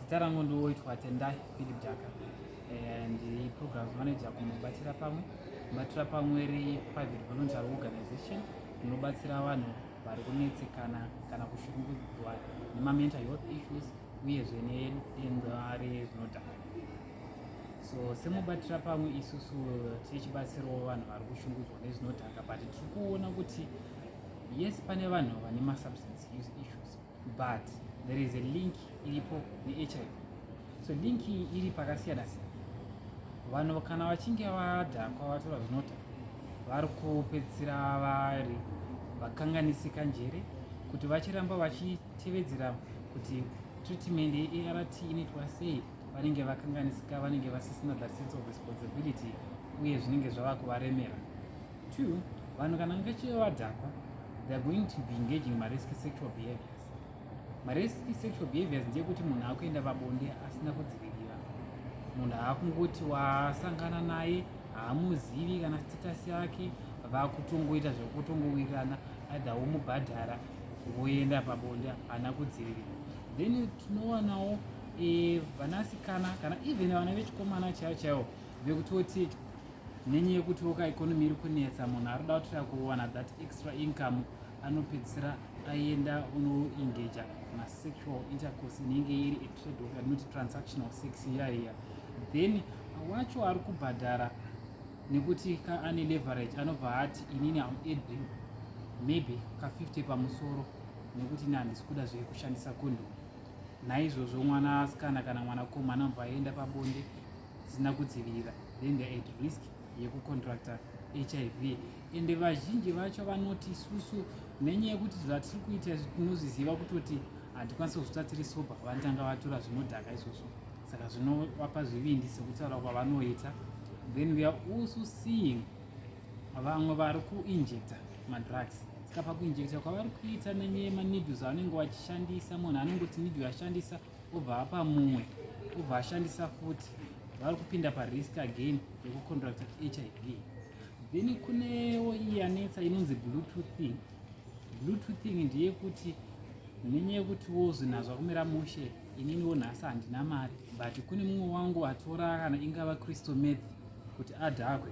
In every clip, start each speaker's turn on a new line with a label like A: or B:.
A: Zita rangu ndiwoitwa Tendai Philip Jaka eh, ndi program manager kunobatira pamwe kubatira pamwe ri private voluntary organization inobatsira vanhu vari kunetsekana kana kushungurudzwa nemamental health issues uyezve nedenda rezvinodhaka so semubatira pamwe isusu tichibatsirawo vanhu vari kushungurudzwa nezvinodhaka but tiri kuona kuti yes pane vanhu vane masubstance use issues but there is a link iripo neHIV so link iyi iri pakasiyana siyana vanhu kana vachinge vadhakwa vatora zvinota vari kupedzisira vari vakanganisika njere kuti vachiramba vachitevedzera kuti treatment yeart inoitwa sei vanenge vakanganisika vanenge vasisina the sense of responsibility uye zvinenge zvava kuvaremera Two, vanhu kana ngacheve vadhakwa they are going to be engaging in marisky sexual behaviors marisky sexual behaviors ndeyekuti munhu akuenda pabonde asina kudzivirira munhu aakungoti wasangana naye haamuzivi kana status yake vakutongoita zvekutongowirirana aidha womubhadhara woenda pabonde haana kudzivirira then tinowanawo eh, vanasikana kana even vana vechikomana chaivo chaivo vekutoti nenyaya yekuti voka economy iri kunetsa munhu ari kuda kutira kuwana that extra income anopedzisira aenda unoengaja masexual intercourse inenge iri atrade of anoti transactional sex iya iya then wacho ari kubhadhara nekuti ka ane leverage anobva ati inini am adri maybe ka 50 pamusoro nekuti ini handisi kuda zvekushandisa kondom naizvozvo mwana asikana kana mwanakomana anobva aenda pabonde dzisina kudzivirira then they at risk yekucontracta hiv ende vazhinji vacho vanoti isusu nenyaya yekuti zvatiri kuita izvi tinozviziva kutoti hatikwanisi kuzvita tiri soba vanotanga vatura zvinodhaka izvozvo saka zvinovapa zvivindi sekutaura kwavanoita then we are also seeing vamwe vari kuinjecta madrugs saka pakuinjecta kwavari kuita nenyaya yemaneedles anenge vachishandisa munhu anenge kuti needle ashandisa obva apa mumwe obva ashandisa futi vari kupinda parisk again yekucontracta hiv then kunewo iyi anetsa inonzi bluetoothing bluetoothing ndeyekuti nenyaya yekuti wozwi nazvo akumira mushe ininiwo nhasi handina mari but kune mumwe wangu atora kana ingava crystal meth kuti adhakwe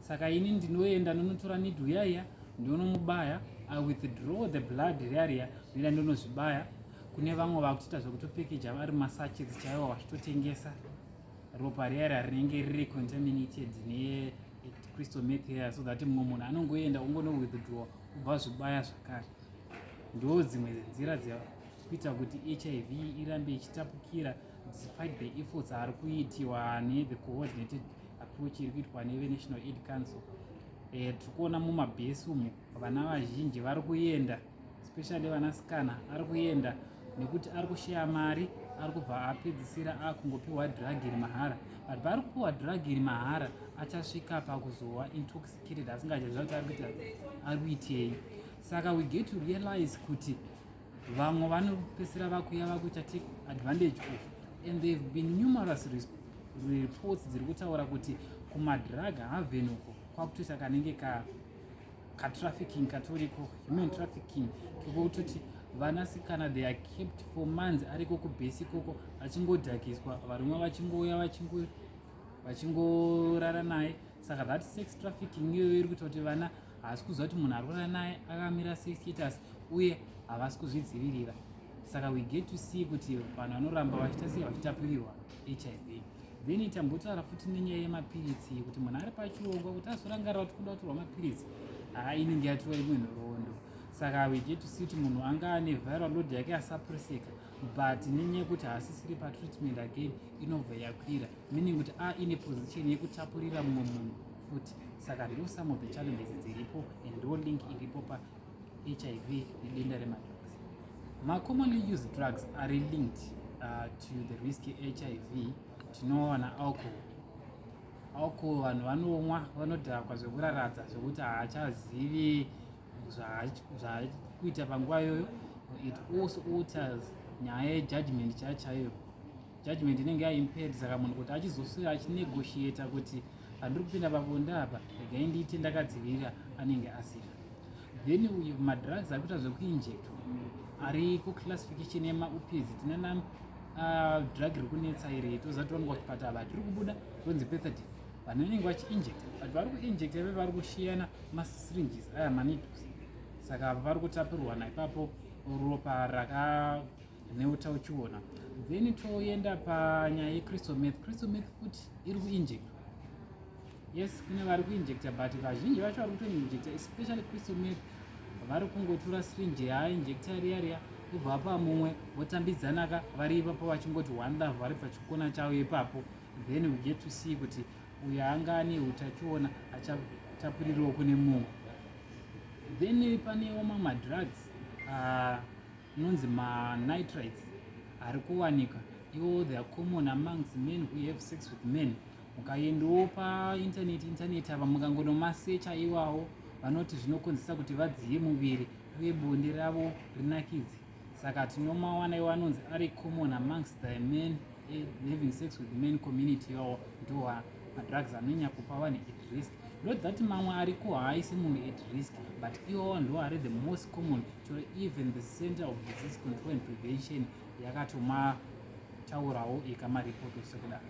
A: saka ini ndinoenda ndonotora nidhu yaiya ndonomubaya i withdraw the blood riariya ndoenda ndonozvibaya kune vamwe vakutoita zvekutopekeja vari masachets chaiwo vachitotengesa ropa riya ra rinenge riri contaminated necrystal meth ya so that mumwe munhu anongoenda ungono withdraw kubva zvibaya zvakare ndo dzimwe nzira dzekuita kuti hiv irambe ichitapukira despite the efforts ari kuitiwa nethe coordinated approach iri kuitwa nevenational aid council eh, tiri kuona mumabhesi umu vana vazhinji vari kuenda especially vanasikana ari kuenda nekuti ari kusheya mari ari kubva apedzisira akungopiwa drug iri mahara but paari kupiwa drug iri mahara achasvika pakuzowa intoxicated asingachaziva kuti ari kuita ari kuitei saka we get to realize kuti vamwe vanopesera vakuya vakuita take advantage of and they've been numerous reports dziri kutaura kuti kumadrug havenuko kwakutoita kanenge ka katrafficking katoriko human trafficking kekutoti vanasikana they are kept for months ariko kubhesi ikoko achingodhakiswa varume vachingouya vachingo vachingorara naye saka that sex trafficking iyoyo iri kuita kuti vana havasi kuziva kuti munhu ari kurara naye akamira sex status uye havasi kuzvidzivirira saka we get to see kuti vanhu vanoramba vachiita sei vachitapirirwa hiv Then tambotaura futi nenyaya yemapiritsi kuti munhu ari pachirongwa kuti azorangarira kuti kuda kutorwa mapiritsi haa inenge yatirwa imwe nhoroondo saka weget to see kuti munhu anga ane viral load yake asapurisika but nenyaya yekuti haasisiri patreatment again inobva yakwira meaning kuti a ine position yekutapurira mumwe munhu futi saka ndo some of the challenges dziripo and ndo link iripo pa HIV nedenda remadrugs. Ma commonly used drugs are linked uh, to the risk HIV tinoona alcohol. Alcohol vanhu vanomwa vanodhakwa zvekuraradza zvekuti haachazivi zvakuita panguva iyoyo. It also alters nyaya yejudgment chaiyo chaiyo. Judgment inenge yaimpaired saka munhu kuti achizoswera achinegotiata kuti handiri kupinda pabonde apa regai ndiite ndakadzivirira anenge asina then uyu madrugs ari kuita zvekuinjectwa ari kuclassification yemaupz tine na uh, drug iri kunetsa iri tozatiwanwa kuchipata ava tiri kubuda tonzi petadin vanhu vanenge vachiinjecta but vari kuinjecta ve vari kushiyana masringes aya manidos saka vari kutapirwana ipapo ropa raka neutachiona then toenda panyaya yecrystal meth crystal meth futi iri kuinject yes kune vari kuinjecta but vazhinji vacho vari kutoinjecta especially crystal meth vari kungotura syringe yaainjecta riya riya kubva pa mumwe votambidzanaka vari ipapo vachingoti one love vari pachikona chavo ipapo then we get to see kuti uyo anga ane utachiona achatapurirwa kune mumwe then panewo mamwe madrugs uh, inonzi manitrites ari kuwanika iwo they are common amongs men who have sex with men ukaendawo painternet internet ava mukangonomasecha iwawo vanoti zvinokonzesa kuti vadziye muviri uye bonde ravo rinakidze saka tinomawana iwo anonzi ari common amongs the men eh, having sex with men community iwawo ndoa madrugs anonyanya kupa vanhu at risk not that mamwe ariko haaisi munhu at risk but iwawo ndoari the most common to even the center of disease control and prevention yakatoma taurawo ikamaripoti sekudaro